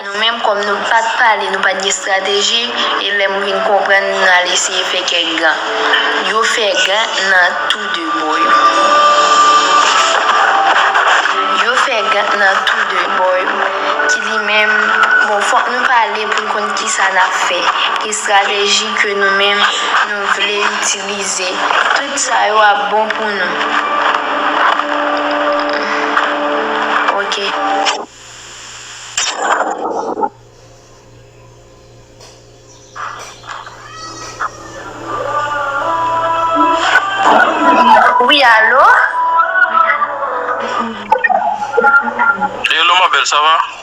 Nou menm kòm nou pat pale nou pat gen strateji e lèm vin konprann nou al eseye fè kèk gan. Yo fè gan nan tou 2 bò yo. Yo fè gan nan tou 2 bò yo. Ki di menm bon fòk nou pale poun konn kisa nap fè. Ki strateji ke nou menm nou vle itilize. itilize. Tout sa yo ap bon pou nou ok. Wi alo. Hello ma belle ça va.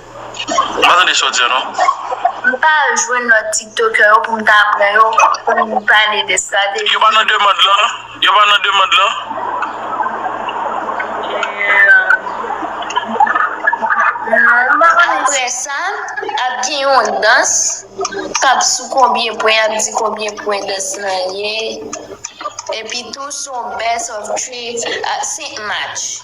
M pa tande sa w di an non. M pa al jwenn lòt tiktokè yo pou m ta pran yo pou m pale de sa. Yo pa nan demand lan? Yo pa nan demand lan? Non, m pa konnen. Aprè sa, ap gen yon dans k ap sou konbyen pwen, y ap di konbyen pwen dans lan ye. Epitou, s on best of three, 5 match.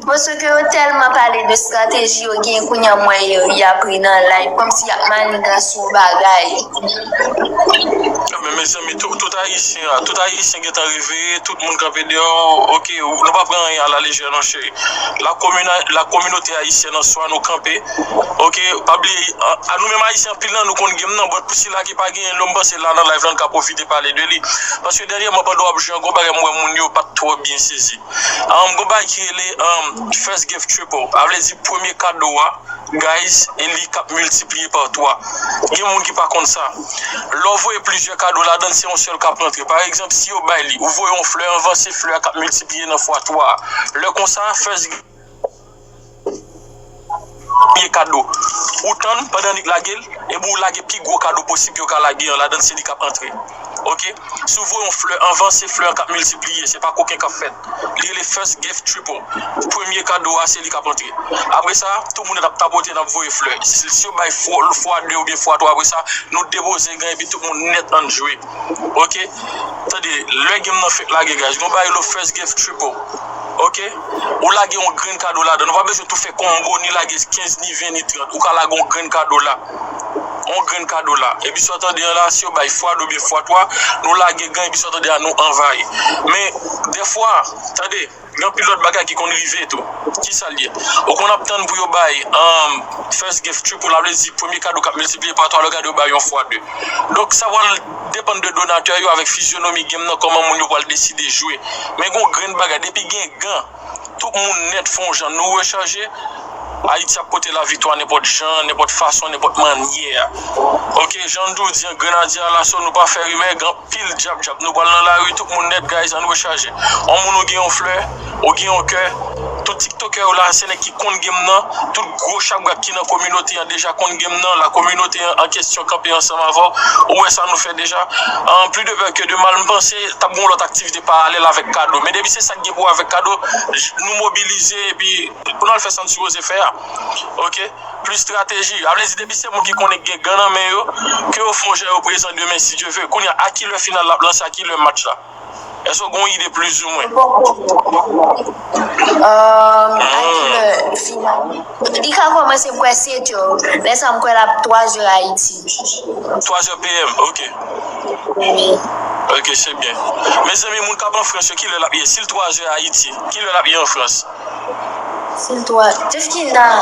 Bon ce que yo telman pale de strategie yo gen kounye an m wè Herry ap ri nan live kom si yap maniganse yon bagay. Men mezanmi tout ayisyen a tout ayisyen gentan reveye tout moun kanpe deyò ok nou pa pran anyen a la lejè non cheri la kominote ayisyèn an swa nou kanpe ok pa bliye a nou menm ayisyen anpil nan nou konn gem nan but pou sila ki pa genyen lò m panse la nan live la n ka pwofite pale de li paske dènyèman pandan w ap jwe an gon bagay m wè moun yo pat twò byen sezi. Gen bagay ki rele first gift triple sa vle di premye kado a guys e li kap miltipliye pa 3 gen moun ki pa konn sa lè w voye plizyè kado ladann se yon sèl kap rantre pa egzanp si yo bay li ou voye yon flè anvan se flè a kap miltipliye nan fwa 3 lè konsa first gift. Premye kado ou tann pandan li k lage l epi ou lage pi gwo kado posib yo ka lage an ladan se li k ap antre ok si w voye yon flè anvan se flè an k ap miltipliye se pa koken k ap fèt li rele first gift triple premye kado a se li k ap antre apre sa tout moun nan t ap tapote n ap voye flè si yo bay fwa 2 oubyen fwa 3 apre sa nou depoze gen epi tout moun nèt ann jwe. Ok tande lè game nan fek lage guys nou bay lo first gift triple ok ou lage yon grenn kado ladann ou pa bezwen tou fè combo ni lage 15 ni 20 ni 30 ou ka lage yon grenn kado la yon grenn kado la epi sa w tande an la si yo bay fwa 2 oubyen fwa 3 nou lage gan epi sa w tande an nou anvayi men dèfwa tande. Gen anpil lòt bagay ki konn rive tou. Kisa l ye? Ou konn ap tann pou yo bay first gift triple, a vle di premye kado k ap miltipliye pa 3 lè w gade yo bay yon fwa 2. Donk sa pral depann de donatè yo avèk fizyonomi gem nan kòman moun yo pral deside jwe. Men gen yon grenn bagay depi gen gan tout moun nèt fon jan nou rechaje. Ayiti ap pote la viktwa nenpòt jan, nenpòt fason, nenpòt mannyè. Ok jan nou toujou di an grenadye a laso nou pa fè rimè gen anpil djab djab nou pral nan lari tout moun nèt guys ann rechaje on moun ou gen yon flè ou gen yon kè tout tiktokè yo la se nèg ki konn game nan tout gwo chabrak ki nan kominote an deja konn game nan la kominote an kesyon kanpe ansanm avèw ou wè sa nou fè deja an pli de pè ke de mal m panse tap gen yon lòt aktivite paralèl avèk kado men depi se sak gen pou wè avèk kado nou mobilize epi Pou nou al fè san sipoze fè a ok plis strateji a vle di depi se moun ki konnen gen gan nan men yo ke yo fon jan yo prezan demen si Dye ve kounye a a kilè final la ap lanse a kilè match la èske ou gen yon ide plizoumwen. Mwen poko gen dat la non. Ahh a kilè final li ka kòmanse m kwè 7 èu lè sa m kwè lap 3 èu Ayiti. 3 èu PM ok. Ok se byen. Mezanmi moun kap an frans yo kilè lap ye sil 3 zè ayiti kilè lap ye an frans. Sil 3 deske nan.